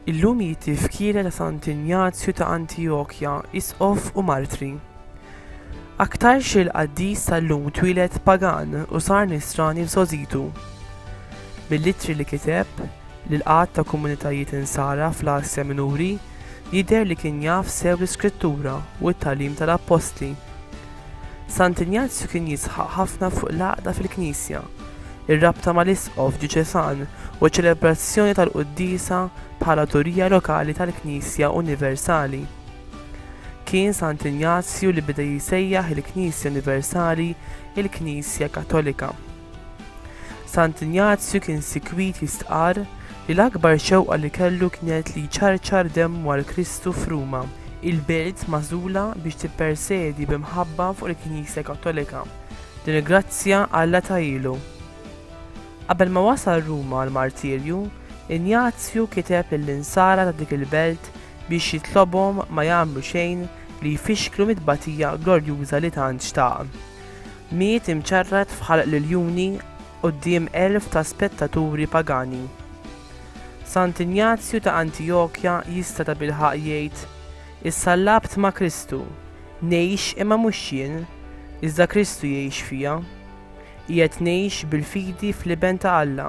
Illum jiti f'kira ta' Sant Ignazju ta' Antijokja, isqof u martri. Aktar xil qaddis tal-lum twilet pagan u sar nisrani f'sozitu. Mill-litri li kiteb, li l-għadd ta' komunitajiet Insara fl-Asja Minuri jidher li kien jaf sew l-Iskrittura u t-tagħlim tal-Appostli. Sant Injazju kien jisħaq ħafna fuq l-għaqda fil-Knisja, ir-rabta mal-Isqof djuċesan u ċ-ċelebrazzjoni tal-quddiesa bħala turija lokali tal-Knisja Universali. Kien Sant Injazju li beda jsejjaħ il-Knisja Universali il-Knisja Kattolika. Sant Injazju kien sikwit jistqarr li l-akbar xewqa li kellu kienet li jċarċar demmu għal Kristu f'Ruma, il-belt magħżula biex tippersedi bi mħabba fuq il-Knisja Kattolika, din il-grazzja Alla tahielu. Qabel ma wasal Ruma għall-martirju, Injazju kiteb lill-insara ta' dik il-belt biex jitlobhom ma jagħmlu xejn li jfixklu mit-tbatija glorjuża li tant xtaq. Miet imċarrat f'ħalq l-iljuni quddiem elf ta' spettaturi pagani. Sant Injazju ta' Antijokja jista' tabilħaqq jgħid, Issa labt ma' Kristu, ngħix imma mhux jien, iżda Kristu jgħix fija. Qiegħed ngħix bil-fidi fl-Iben ta' Alla,